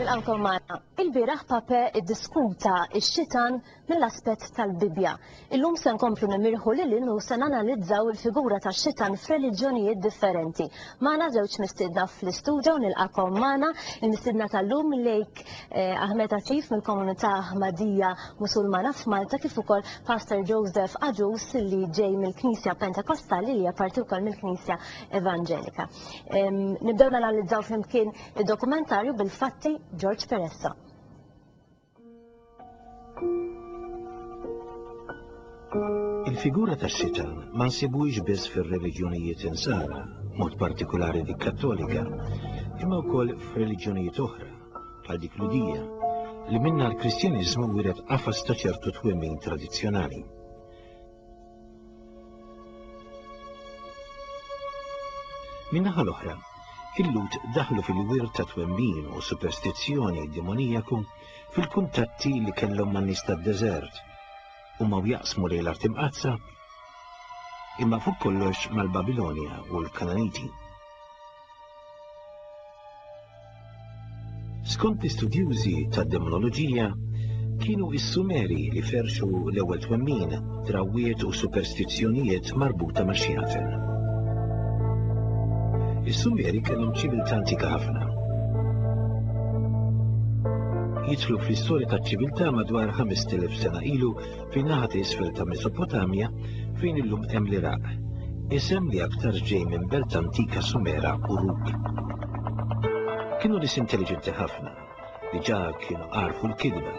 Nilqakom magħna. Il-bieraħ Pape iddiskuta x-xitan mill-aspett tal-Bibbja. Illum se nkomplu nimirħu lil hinn u se nanalizzaw il-figura tax-xitan f'reliġjonijiet differenti. Magħna żewġ mistiedna fl-istudio u nilqakom magħna. Il-mistiedna tal-lum lejk eh, Ahmed Atif mill-komunità Ahmadija Musulmana f'Malta kif ukoll Pastor Joseph Aġus li ġej mill-Knisja Pentakostali li hija parti wkoll mill-Knisja Evanġelika. Nibdew nanalizzaw flimkien id-dokumentarju bil-fatti George Peressa. Il-figura ta' sitan ma nsibux biss fir-reliġjonijiet insara, mod partikolari dik kattolika, imma wkoll f'reliġjonijiet oħra, bħal dik ludija, li minna l-Kristjaniżmu wiret qafas ta' ċertu twemmin tradizzjonali. Min-naħa l-oħra, il-Lhud daħlu fil-wirt ta' twemmin u superstizzjoni demonijaku fil-kuntatti li kellhom man nies tad-deżert u ma jaqsmu lejn l-art imqazza imma fuq kollox mal-Babilonja u l-Kananiti. Skont l-istudjużi tad-demonoloġija, kienu s-Sumeri li ferxu l-ewwel twemmin, drawwiet u superstizzjonijiet marbuta ma' xjafen. Is-Sumeri kellhom ċiviltà antika ħafna. Jidħlu fl-istorja taċ-ċiviltà madwar 5,000 sena ilu fin naħa t'isfel ta' Mesopotamja fejn illum hemm l-Iraq, isem li aktarx ġej minn belt antika Sumera Uruk. Kienu nies intelliġenti ħafna, diġà kienu għarfu l-kitba.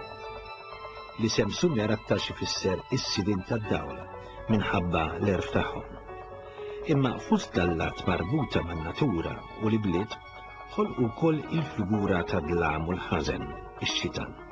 L-isem Sumer aktarx ifisser is-sidien tad-dawl minħabba l-għerf tagħhom. Imma fost dallat marbuta man-natura u l-ibliet ħolqu wkoll il-figura tad-dlam u l-ħażen, ix-xitan.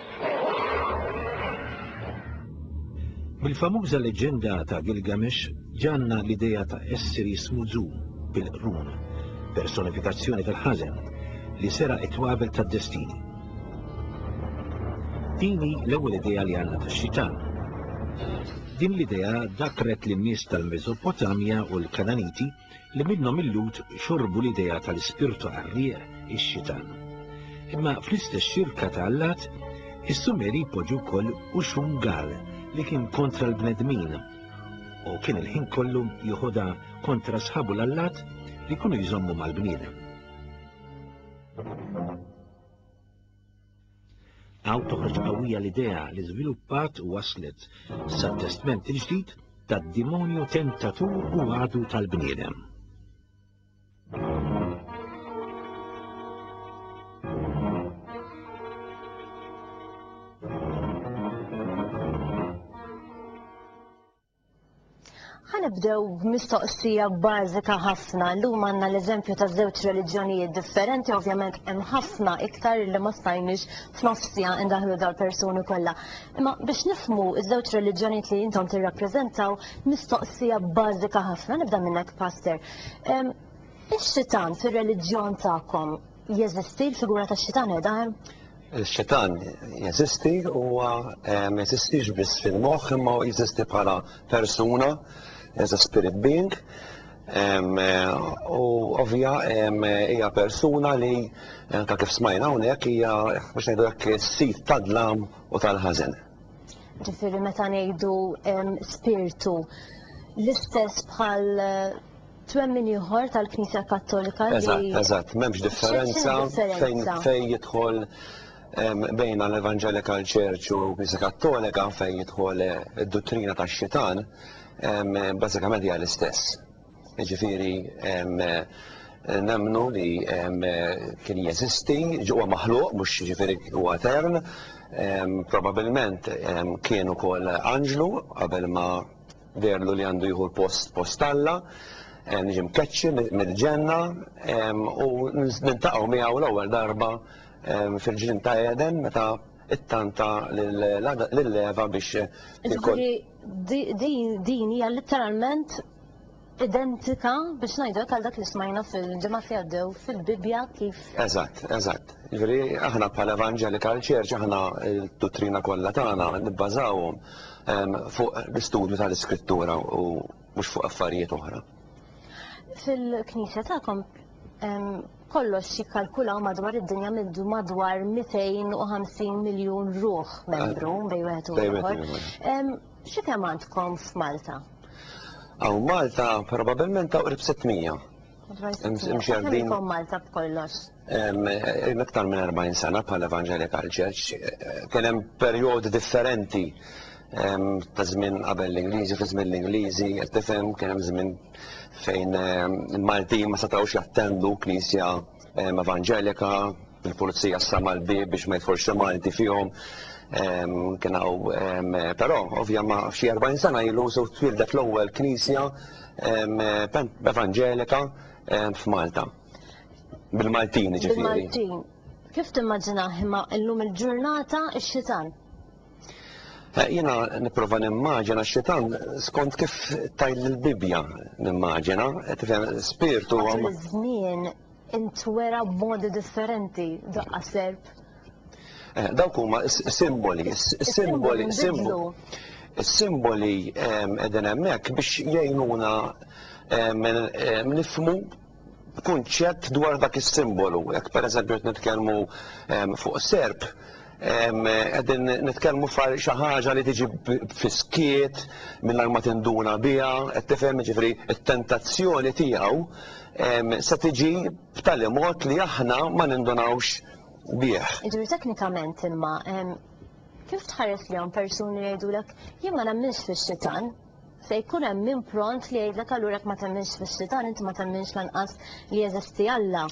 Mill-famuża leġġenda ta' Gilgamesh ġanna l-idea ta' essir jismu Zu, bil-qrun, personifikazzjoni tal-ħażen, li seraq it-twabel tad-destini. Din hi l-ewwel idea li għandna tax-xitan. Din l-idea dakkret lin-nies tal-Meżopotamja u l-Kananiti li minnhom il-Lhud xorbu l-idea tal-ispirtu qarrieq, ix-xitan. Imma fl-istess xirka ta' allat, is-Sumeri jpoġġu wkoll Uxxun Gal li kien kontra l-bnedmin u kien il-ħin kollu jeħodha kontra sħabu l-allat li jkunu jżommu mal-bniedem. Hawn toħroġ qawwija l-idea li żviluppat u waslet sat-testment il-ġdid tad-dimonju tentatur u għadu tal-bniedem. Ħanibdew b'mistoqsija bażika ħafna. Llum għandna l-eżempju ta' żewġ reliġjonijiet differenti, ovvjament hemm ħafna iktar li ma stajniex f'nofsija indaħlu dal-persuni kollha. Imma biex nifmu ż-żewġ reliġjonijiet li intom tirrappreżentaw, mistoqsija bażika ħafna nibda minnek pastor. Ix-xitan fir-reliġjon tagħkom Jeżisti l-figura tax-xitan qiegħda hemm? Ix-xitan jeżisti huwa ma jeżistix biss fil-moħħ imma jeżisti bħala persuna, as a spirit being. U ovvja hija persuna li anke kif smajna hawnhekk hija biex ngħidu hekk is-sid tad-dlam u tal-ħażen. Ġifieri meta ngħidu spirtu l-istess bħal twemmin ieħor tal-Knisja Kattolika. Eżatt, eżatt, m'hemmx differenza fejn fejn jidħol bejn l-Evangelical Church u Knisja Kattolika fejn jidħol eh, id-dottrina tax-xitan, bażikament hija l-istess. Ġifieri nemnu li kien jeżisti, ġewwa maħluq, mhux ġifieri huwa etern, probabilment kien ukoll anġlu qabel ma Deherlu li għandu jieħu l-post post Alla, niġi mkeċċi mill-ġenna u niltaqgħu miegħu l-ewwel darba fil-ġnien ta' Eden meta ttanta lil Eva biex Jiġifieri din hija litteralment identika biex ngħidu hekk għal dak li smajna fil-ġimgħat li għaddew fil-Bibbja kif Eżatt, eżatt. Jiġifieri aħna bħala Evangelical Church aħna d-duttrina kollha tagħna nibbażawhom fuq l-istudju tal-Iskrittura u mhux fuq affarijiet oħra. Fil-Knisja tagħkom kollox jikkalkulaw madwar id-dinja mindu madwar 250 miljun ruħ membru bej wieħed u ieħor. Xi kemm għandkom f'Malta? Hawn Malta probabbilment ta' qrib 600. Madwar 600. Kemm inkom Malta b'kollox? Iktar minn 40 sena bħal Evangelical Church kien hemm perjodi differenti ta' żmien qabel l-Ingliżi, fi żmien l-Ingliżi, qed tifhem kien hemm żmien fejn il-Maltin ma setgħux jattendu knisja evanġelika, il-pulizija s-sama l-bib biex ma jidħolx xi Malti fihom. Kien hawn però ovvja ma xi 40 sena ilu sew twildet l-ewwel knisja evanġelika f'Malta. Bil-Maltin ġifieri. Bil-Maltin. Kif timmaġinah imma illum il-ġurnata x-xitan? Eh, Jena niprofa nimmaġina x-xitan skont kif tajl l-Bibja nimmaġina, eh, tifhem spirtu għam. Żmien intwera b'modi differenti daqqa serb. Eh, dawk huma simboli, simboli, simboli. Simboli qegħdin hemmhekk biex jgħinuna nifmu kunċett dwar dak is-simbolu. Jekk pereżempju qed nitkellmu ehm, fuq serp, ehm, qegħdin nitkellmu far xi ħaġa li tiġi fiskiet mingħajr ma tinduna biha, qed tifhem ġifri t-tentazzjoni tiegħu ehm, se tiġi b'tali mod li aħna ma nindunawx bih. Ġifri teknikament imma kif tħares li hawn persuni jgħidulek jien ma nemminx fix-xitan, Se jkun hemm min pront li jgħidlek allura jekk ma temminx fix-xitan inti ma temminx lanqas li jeżisti Alla.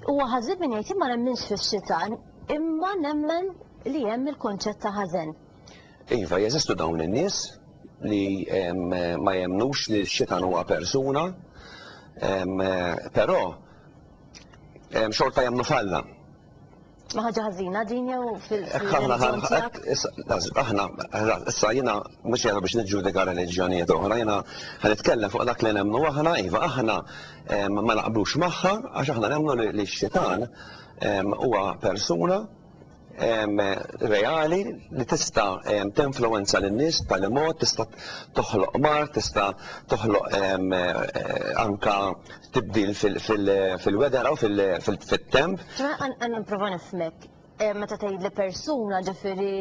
Huwa ħażin min jgħid jien ma nemminx fix-xitan imma nemmen li hemm il-kunċett ta' ħażen. Iva, jeżistu dawn in-nies li ma jemmnux li x-xitan huwa persuna, però xorta jemmnu f'Alla. Ma ħaġa ħażina din jew fil Aħna issa jiena mhux jara biex niġġudika reliġjonijiet oħra, jiena ħanitkellem fuq dak li nemmnu aħna, iva aħna ma naqblux magħha għax aħna nemmnu li x-xitan huwa persuna reali li tista' tinfluwenza lin-nies b'tali mod tista' toħloq mar, tista' toħloq anka tibdil fil-weather u fit-temp. Ġifieri qed nipprova nifhmek, meta tgħidli persuna ġifieri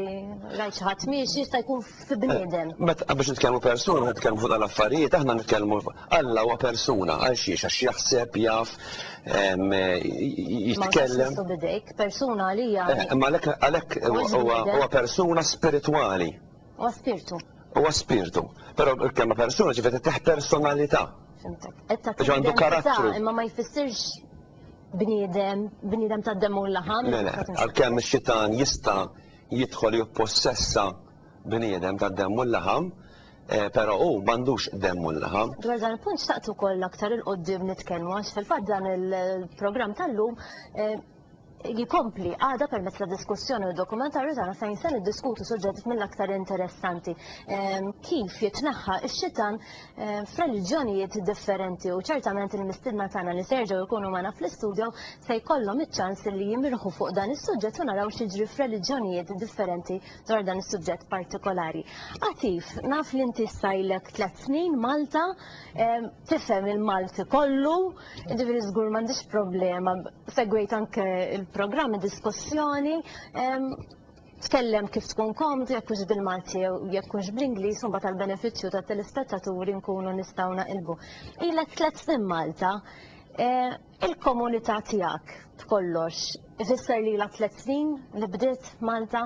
rajt xi ħadd miexi jista' jkun fi bniedem. Meta biex nitkellmu persuna meta nitkellmu fuq dawn l-affarijiet aħna nitkellmu Alla huwa persuna għal xiex għax jaħseb, jaf, jitkellem. Ma tistgħux tmisshu b'idejk, persuna għalija. Imma għalhekk huwa persuna spiritwali. Huwa spirtu. Huwa spirtu. Però l-kelma persuna ġifiet ittieħ personalità. Fimtek. Ġo għandu karattru. Imma ma jfissirx bniedem, bniedem ta' demmu l-laħam. Le, le, għal-kemm xitan jista jidħol jippossessa bniedem ta' demmu l-laħam, eh, pero u mandux demmu l-laħam. Dwar dan il-punt xtaqtu koll aktar il-qoddim nitkellmu, għax fil-fat dan il-program tal-lum eh, jkompli għada permezz ta' diskussjoni u dokumentarju tagħna fejn se niddiskutu suġġetti mill-aktar interessanti. Ehm, kif jitneħħa x-xitan ehm, f'reliġjonijiet differenti u ċertament il-mistidna tagħna li se jerġgħu jkunu magħna fl-istudju se jkollhom iċ-ċans li jimirħu fuq dan is-suġġett u naraw x'jiġri f'reliġjonijiet differenti dwar dan is-suġġett partikolari. Atif, naf li inti sajlek tliet snin Malta, ehm, tifhem il-Malti kollu, Ġifiri żgur m'għandix problema, segwejt anke il-programm, diskussjoni, tkellem kif tkun komd, jekk hux bil-Malti jew jekk hux bl-Ingliż, u mbagħad tal-benefiċċju ta' telespettaturi nkunu nistgħu naqilbu. Ilek tliet snin Malta, e, il-komunità tiegħek b'kollox ifisser lilha tliet snin li bdiet Malta?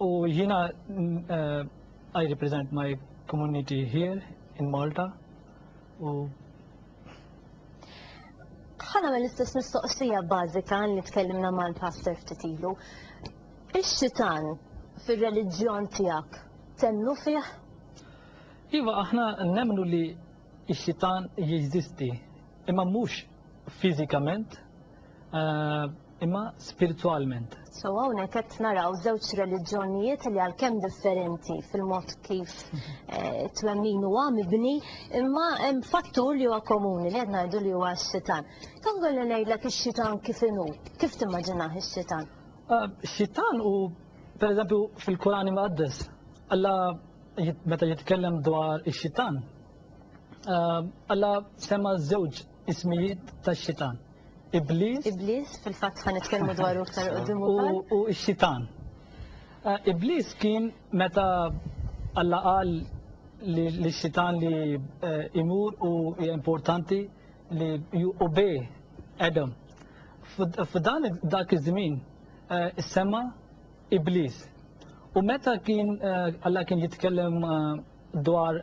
U jiena uh, I represent my community here in Malta. U ħana mill istess mistoqsija bażika li tkellimna mal-pastor ftit ilu. Ix-xitan fir-reliġjon tiegħek temnu fih? Iva, aħna nemmnu li x-xitan jeżisti, imma mhux fiżikament, eh, imma spirtwalment. So hawnhekk qed naraw żewġ reliġjonijiet li għalkemm differenti fil-mod kif eh, twemmin huwa mibni, imma hemm fattur li huwa komuni li qed ngħidu li huwa x-xitan. Kan kolli ngħidlek ix-xitan kif inhu, kif timmaġinah ix-xitan? Eh, xitan u pereżempju fil-Kurani Muqaddes, Alla meta jitkellem dwar ix-xitan, eh, Alla semma żewġ Ismijiet tax-xitan. Ibliż. Ibliż, fil-fatt ħa nitkellmu dwaru aktar qudiem ukoll. U x-xitan. Eh, Ibliż kien meta Alla qal li xitan li eh, imur u importanti li u be Adam. F'dan dak iż-żmien eh, sema Iblis. U meta kien eh, Alla kien jitkellem dwar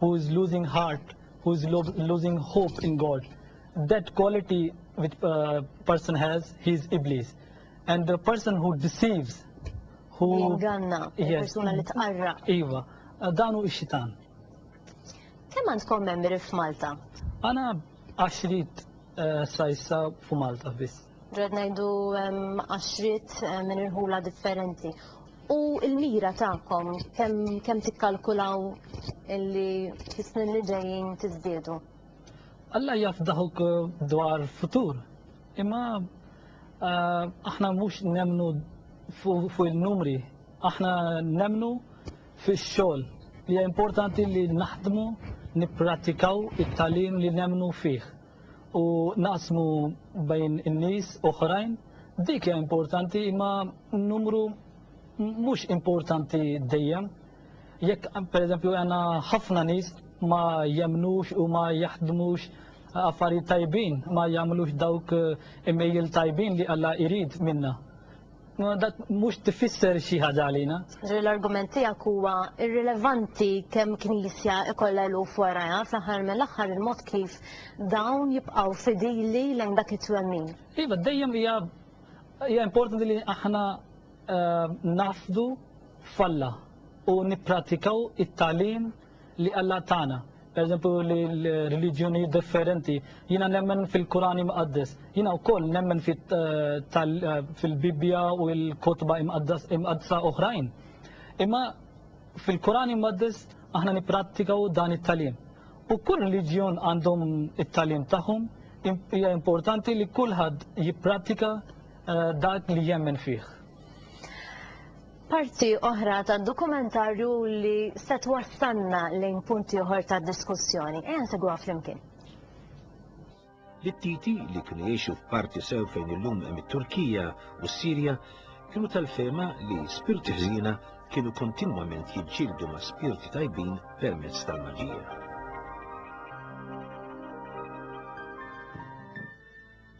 who is losing heart, who is lo losing hope in God. That quality which uh, person has, he is Iblis. And the person who deceives, who... Jinganna, yes, persuna li tqarra. Iva, uh, danu ix-xitan. Kemm għandkom membri f'Malta? Għana għaxrit uh, sajsa fu Malta biss. Ġed najdu għaxrit uh, minn irħula differenti. U l-mira tagħkom kemm kemm tikkalkulaw illi fis-snin li ġejjin tiżdiedu? Alla jaf daħuk eh, dwar futur. Imma eh, aħna mhux nemnu fuq il-numri, aħna nemnu fix-xogħol li importanti li naħdmu nipprattikaw it-talim li nemnu fih. u naqsmu bejn in-nies oħrajn, dik hija importanti imma numru mhux importanti dejjem. Jekk pereżempju għandna ħafna nies ma jemnux u ma jaħdmux affarijiet tajbin, ma jagħmlux dawk imejjil tajbin li Alla jrid minna. Ma dak mhux tifisser xi ħaġa għalina. L-argument tiegħek huwa irrilevanti kemm knisja ikollha eluf warajha, fl-aħħar mill-aħħar il-mod kif dawn jibqgħu fidili lejn dak it-twemmin. Iva, dejjem hija hija importanti li aħna eh, nafdu f'Alla u nippratikaw it-tagħlim li Alla tagħna. Pereżempju li l-reliġjonijiet differenti, jiena nemmen fil-Kur'an Imqaddes, jiena wkoll nemmen fil-Bibbja u l-kotba imqaddsa oħrajn. Imma fil-Kur'an Imqaddes aħna nipprattikaw dan it-tagħlim. U kull reliġjon għandhom it-tagħlim tagħhom, hija importanti li kulħadd jipprattika eh, dak li jemmen fih. Parti oħra tad-dokumentarju li se twassalna lejn punt ieħor ta' diskussjoni. Ejja nsegwa flimkien. L-Ittiti li kienu jgħixu f'parti sew fejn illum hemm it-Turkija u s-Sirja kienu tal-fehma li spirti ħżiena kienu kontinwament jiġġieldu ma' spirti tajbin permezz tal-maġija.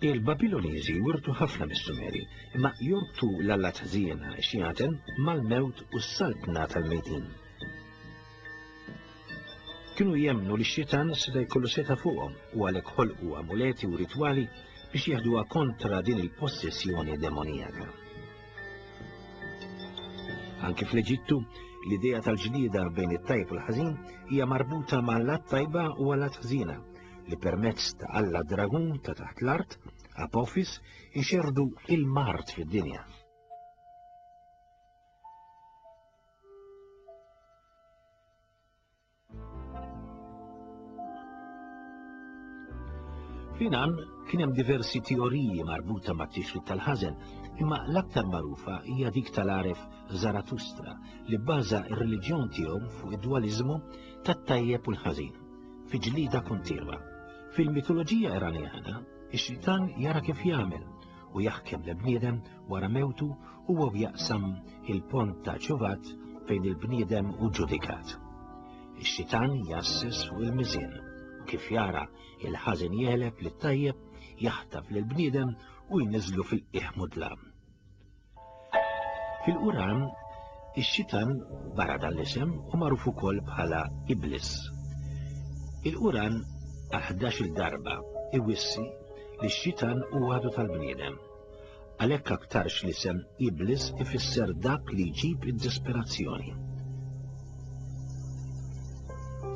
Il-Babiloniżi wirtu ħafna mis-Sumeri, imma jorbtu l-allat ħżiena, Xiaten, mal-mewt u s-saltna tal-mejtin. Kienu jemmnu li x-Xitan seta' jkollu seta' fuqhom u għalhekk ħolqu amuleti u ritwali biex jeħduha kontra din il-possessjoni demonijaka. Anki fl-Eġittu, l-idea tal-ġlieda bejn it-tajb u l-ħażin hija marbuta ma' lat tajba u għal lat ħżiena, li permezz ta' Alla Dragun ta' taħt l-art, Apophis, ixerdu il-mart fid-dinja. Finan kien hemm diversi teoriji marbuta ma' tixrid tal-ħażen, imma l-aktar magħrufa hija dik tal-għaref Zaratustra li bbaża r-reliġjon tiegħu fuq id-dwaliżmu tat-tajjeb u l-ħażin. fi ġlida kontinwa. Fil-mitoloġija Iranjana, ix-xitan jara kif jagħmel u jaħkem l-bniedem wara mewtu u għaw jaqsam il-pont ta' ċuvat fejn il-bniedem u ġudikat. Ix-xitan jassis fuq il-mizin u kif jara il-ħażin jeleb li tajjeb jaħtaf l-bniedem u jniżlu fil-qiegħ mudlam. Fil-Quran, ix-Xitan, barra dan l-isem, hu magħruf ukoll bħala Iblis. Il-Quran għal ħdax-il darba iwissi li x-Xitan hu għadu tal-bniedem. Għalhekk aktarx l-isem Iblis ifisser dak li jġib id-disperazzjoni.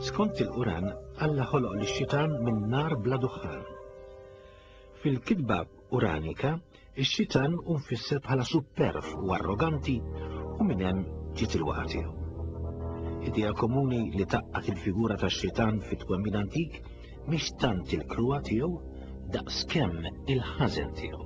Skont il-Quran, Alla ħoloq lix-Xitan minn nar bla duħħan. Fil-kitba Quranika, ix-Xitan hu mfisser bħala supperv u arroganti u minn hemm ġiet il-waqgħa tiegħu. Idea komuni li tgħaqqad il-figura tax-Xitan fit-twemmin antik mhix tant il-kruha tiegħu daqskemm il-ħażen tiegħu.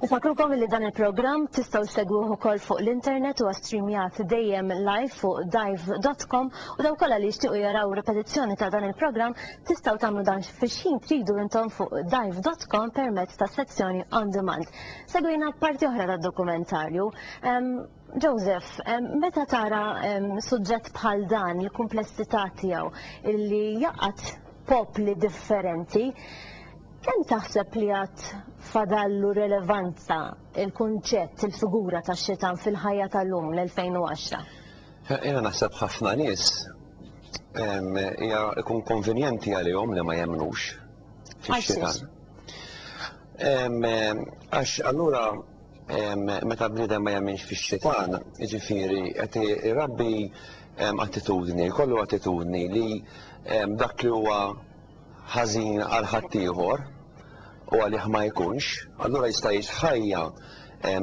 Nfakrukom li dan il-programm tistgħu segwuh ukoll fuq l-internet u streamjat dejjem live fuq dive.com u daw kollha li jixtiequ jaraw ripetizzjoni ta' dan il-programm tistgħu tagħmlu dan fix-ħin tridu intom fuq dive.com permezz tas-sezzjoni on demand. Segwina parti oħra tad-dokumentarju. Joseph, meta tara suġġett bħal dan, il-kumplessità tiegħu, illi jaqgħad popli differenti, kemm taħseb li għad fadallu relevanza il-kunċett, il-figura tax-xitan fil-ħajja tal-lum, l-2010? Jiena naħseb ħafna nies hija jkun konvenjenti għalihom li ma jemmnux fix-xitan. Għax allura meta bniedem ma jemminx fix-Xitan, jiġifieri qed irabbi attitudni, jkollu attitudni li dak li huwa ħażin għal ħaddieħor u għalih ma jkunx, allura jista' jgħix ħajja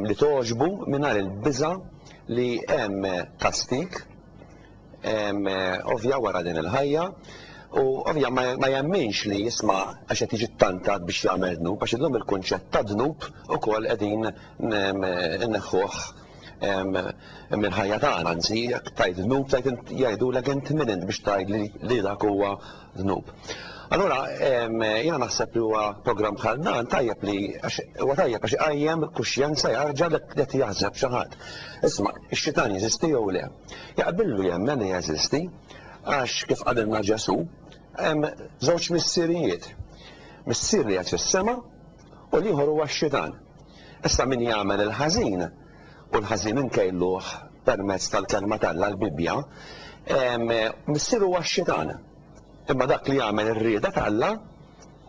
li togħġbu mingħajr il-biża' li hemm kastig ovvja wara din il-ħajja u ovvja ma jemminx li jisma' għax qed jiġi ttantat biex jagħmel dnub għax illum il-kunċett ta' dnub ukoll qegħdin inneħħuh mill-ħajja tagħna anzi jekk tajt dnub tajt jgħidulek int min int biex tgħid li dak huwa dnub. Allura jiena naħseb li huwa programm bħal dan tajjeb li huwa tajjeb għax iqajjem kuxjenza jarġa' li qed jaħseb xi ħadd. Isma' x-xitan jeżisti jew le? Jaqbillu jemmen li jeżisti għax, kif qalilna Ġesù, hemm żewġ missirijiet, missier li qiegħed fis-sema u l-ieħor huwa x-xitan. Issa min jagħmel il-ħażin, u l-ħażin inkejluh permezz tal-Kelma t'Alla, l-Bibbja, missier huwa x-xitan. Imma dak li jagħmel ir-rieda t'Alla,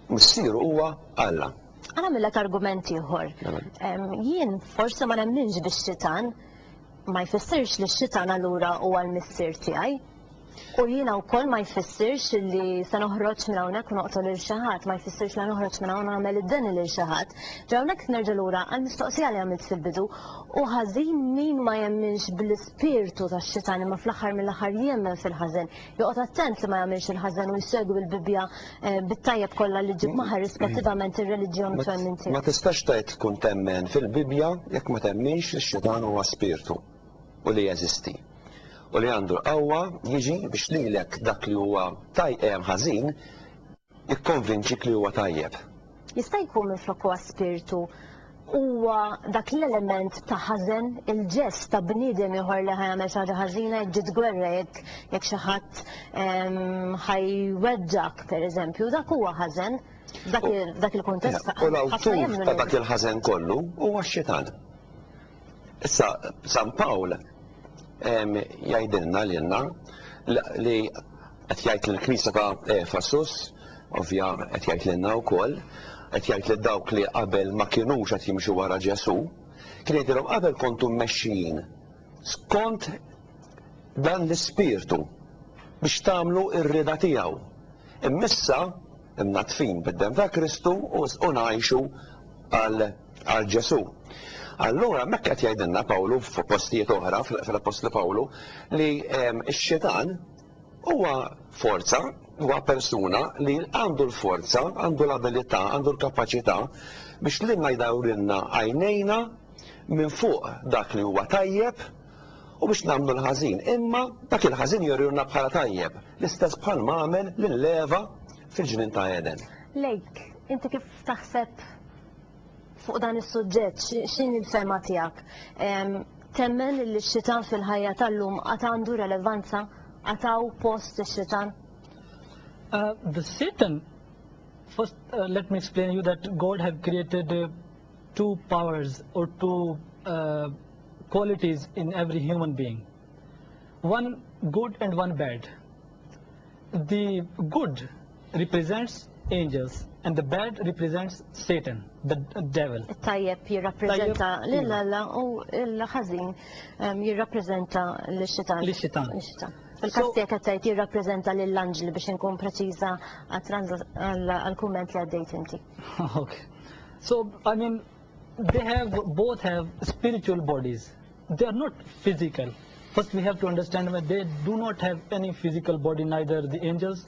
missieru huwa Alla. Għana milla argument ieħor. Mela. Jien forsi ma nemminx bix-xitan, ma jfissirx li x-xitan allura huwa l-missier tiegħi. U jiena wkoll ma jfissirx li se noħroġ minn hawnhekk u noqtol lil xi ħadd, ma jfissirx li noħroġ minn hawn u nagħmel id-deni lil xi ħadd. Ġa hawnhekk nerġa' lura għall-mistoqsija li għamilt fil-bidu, hu ħażin min ma jemminx bl-ispirtu tax-xitan imma fl-aħħar mill-aħħar jemmen fil-ħażen, Joqgħod attent li ma jagħmilx il-ħażen u jsegwi l-Bibbja bit-tajjeb kollha li ġġib magħha irrispettivament ir-reliġjon u twemmin tiegħu. Ma tistax tgħid tkun temmen fil-Bibbja jekk ma temminx li x-xitan huwa spirtu u li jeżisti u li għandu l-qawwa jiġi biex lilek dak li huwa tajjeb ħażin, Ikkonvinċik li huwa tajjeb. Jista' jkun minflok huwa spirtu, huwa dak l-element ta' ħażen, il-ġest ta' bniedem ieħor li ħa jagħmel xi ħaġa ħażina, jekk ġiet gwerra, jekk jekk xi ħadd ħa jweġġgħek, pereżempju, dak huwa ħażen, f'dak f'dak il-kuntest ħafna jemmnu li. U l-awtur ta' dak il-ħażen kollu huwa x-Xitan. Issa, San Pawl jgħidilna lilna li Qed jgħid lill-Knisja ta' Efesus, ovvja qed jgħid lilna wkoll, qed jgħid lil dawk li qabel ma kinux qed jimxu wara Ġesù, kien jgħidilhom qabel kontu mmexxijin skont dan l-ispirtu biex tagħmlu r-rieda tiegħu, imma issa mnaddfin bid-demm ta' Kristu u ngħixu għal Ġesù. Allura hemmhekk qed jgħidilna Pawlu f'postijiet oħra fl-Appostlu Pawlu li x-xitan Huwa forza, huwa persuna li għandu l-forza, għandu l-abilità, għandu l-kapaċità biex lilna jdawrilna għajnejna minn fuq dak li huwa tajjeb u biex nagħmlu l-ħażin. Imma dak il-ħażin jurilna bħala tajjeb, l-istess bħal ma għamel lil Eva fil-ġnien ta' Eden. Lejk, inti kif taħseb Fuq dan is-suġġett x'inhi l-fehma tiegħek? Temmen li x-xitan fil-ħajja tal-lum għad għandu relevanza? Għad hawn post ix-xitan? Uh, the Satan, first uh, let me explain you that God have created uh, two powers or two uh, qualities in every human being. One good and one bad. The good represents angels and the bad represents Satan, the devil. Tajjeb jirrappreżenta lil Alla u l-ħażin ehm, jirrappreżenta l-xitan. L-xitan. Il-kas tiegħek qed tgħid jirrappreżenta lill-anġli biex inkun preċiża għall-kumment li għaddejt inti. Okay. So, I mean, they have both have spiritual bodies. They are not physical. First, we have to understand that they do not have any physical body, neither the angels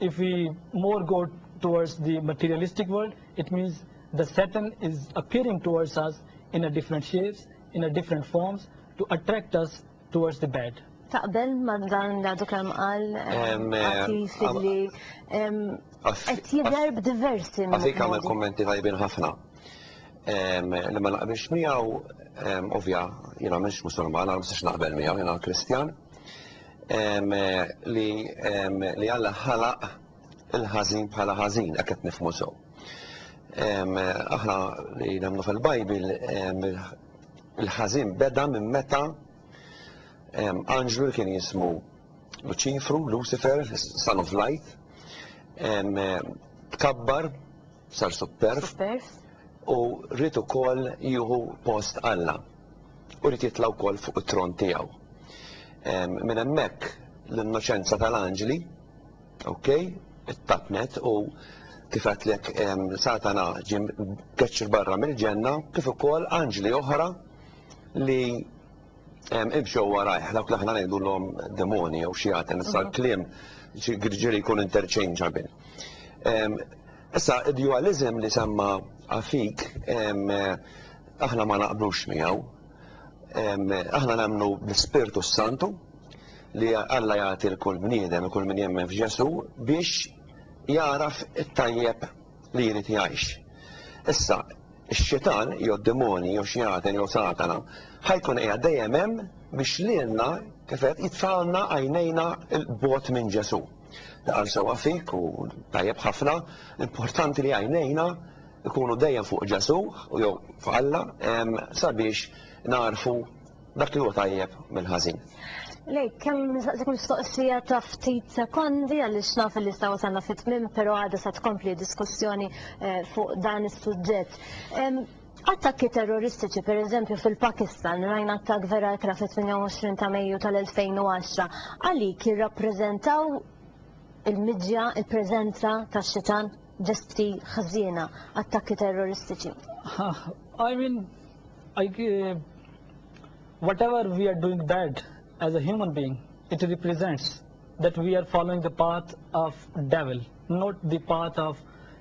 If we more go towards the materialistic world, it means the Satan is appearing towards us in a different shapes, in a different forms to attract us towards the bad. Taqbel ma dan li għadu kemm qal għatif eh, eh, li qed jidher b'diversi minn. Għadik għamel kummenti tajbin ħafna. Li ma naqbilx miegħu ovvja jiena mhux musulman, għal mhux naqbel miegħu jiena Kristjan. li li Alla ħalaq il-ħażin bħala ħażin, hekk qed nifhmu sew. Aħna li nemmnu fil-Bajbil il-ħażin beda minn meta anġlu li kien jismu Luċifru, Lucifer, son of light, tkabbar sar superf u rrid ukoll jieħu post Alla. u jrid jitla' wkoll fuq it-tron tiegħu. Minn hemmhekk l-innoċenza tal-anġli, ok, it-tapnet u kif għatlek Satana ġim keċċ barra mill-ġenna, kif ukoll anġli oħra li imxew warajh, dawk li aħna ngħidulhom demoni jew xi ħadd, nisa l-kliem ġiri jkun interchangeable. Issa, d-dualiżm li semma Afik aħna ma naqblux miegħu. Aħna nemmnu bl-Ispirtu s-Santu li Alla jagħti lkull bniedem, lkull min jemmen f'Ġesù biex jagħraf it-tajjeb li jrid jgħix. Issa, ix-Xitan jew d-dimoni jew xjaten jew Satana ħa jkun qiegħed dejjem hemm biex lilna kif qed jitfagħalna għajnejna 'l bogħod minn Ġesù. Naqra sewwa fik u tajjeb ħafna, importanti li għajnejna ikunu dejjem fuq Ġesu u jew fuq Alla sabiex narfu dak li huwa tajjeb mill-ħażin. Lejk, kemm nistaqsik mistoqsija ta' ftit sekondi għaliex naf li sta wasalna fit-tmiem, però għadha sa tkompli diskussjoni eh, fuq dan is-suġġett. Attakki terroristiċi, pereżempju fil-Pakistan, rajna attakk vera ikra fit-28 ta' Mejju tal-2010, għalik jirrappreżentaw il-miġja, il-preżenza tax-xitan, ġesti ħżiena, attakki terroristiċi. I mean, I, uh, whatever we are doing bad as a human being, it represents that we are following the path of devil, not the path of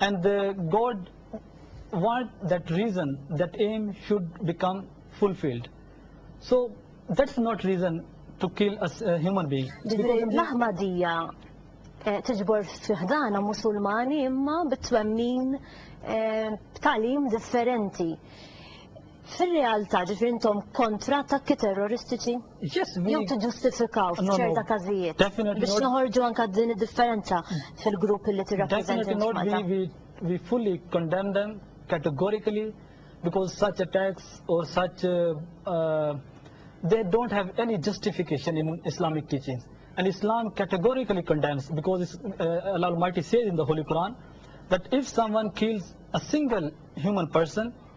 And the God want that reason, that aim should become fulfilled. So that's not reason to kill a, a human being. Ġifiri, l-Ahmadija eh, tiġbor fiħdana musulmani imma bit-twemmin eh, b'talim differenti. Fir-realtà, ġifieri intom kontra attakki terroristiċi? Jew tiġġustifikaw f'ċerta każijiet? Biex noħorġu anke din id-differenza fil-grupp li tirrappreżenta int f'Malta. Definitely not, we fully condemn them categorically because such attacks or such they don't have any justification in Islamic teachings. And Islam categorically condemns because Allah Almighty says in the Holy Quran that if someone kills a single human person,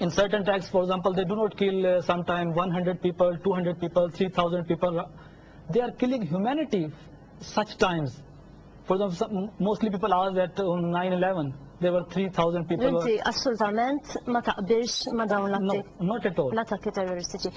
In certain texts, for example, they do not kill uh, sometimes 100 people, 200 people, 3,000 people. They are killing humanity such times. For example, some, mostly people are that on 9-11, there were 3,000 people. Inti assolutament ma taqbilx ma dawn l-atti. No, not at all. L-attakki terroristiċi.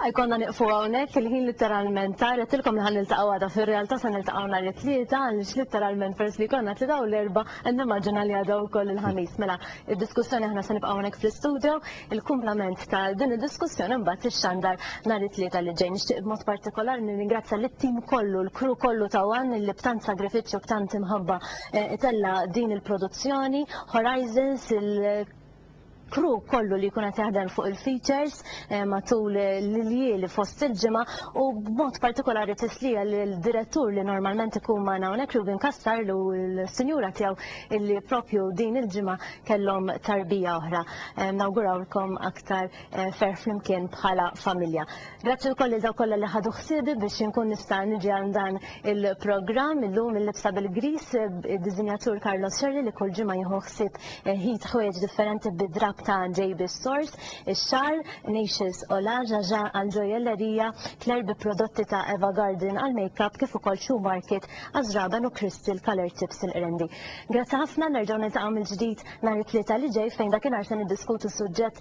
Għajkonna niqfu għawnek il-ħin literalment tarja tilkom li ħan niltaqaw għada fil-realtà sa niltaqaw nar it-tlieta għalix literalment pers li konna tlieta u l-erba Nimmaġina li għadha wkoll il-ħamis, mela id-diskussjoni aħna se nibqgħu hawnhekk fl-istudio, il-kumplament ta' din id-diskussjoni mbagħad ix-xandar nhar it-tlieta li ġej. Nixtieq b'mod partikolari nirringrazzja lit-tim kollu, l-crew kollu ta' wan li b'tant sagrifiċċju b'tant imħabba eh, itella' din il-produzzjoni, Horizons, il crew kollu li jkun qed jaħdem fuq il-features eh, matul l-iljieli fost il-ġimgħa u b'mod partikolari tislija l-direttur li normalment ikun ma' hawnhekk Ruben Kassar u l-sinjura tiegħu illi propju din il-ġimgħa kellhom tarbija oħra. Eh, nawgurawlkom aktar eh, fer flimkien bħala familja. Grazzi wkoll lil dawk kollha li ħadu ħsiebi biex inkun nista' niġi għal dan il-programm illum il-libsa bil-griż id-diżinjatur Carlos Scerri li kull ġimgħa jieħu ħsieb ħid ħwejjeġ differenti bid-drapp ta' JB Stores, ix-xagħar, Nacious Ola, Jaja għal ġojellerija, Claire bi prodotti ta' Eva Garden għal makeup kif ukoll Shoe Market għaż-żraben u Crystal Colour Tips il-qrendi. Grazzi ħafna, nerġgħu niltaqgħu mill-ġdid nhar it-Tlieta li ġej fejn dakinhar se niddiskutu suġġett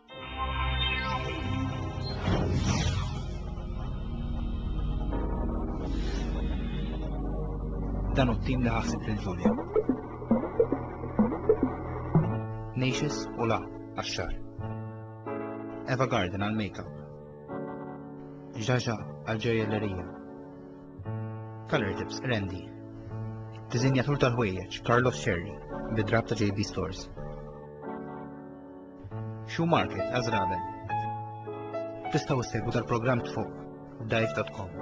Dan u t-tim li ħassib lil Ġulja. Nations u la għax-xar. Eva Garden għal makeup. Ġaġa għal ġerjellerija. Color tips Randy. Dizinjatur tal-ħwejjeġ Carlos Sherry bid-drab ta' JB Stores. Shoe Market, Għażraben. Tistgħu ssegwu dal-programm tfuq dive.com.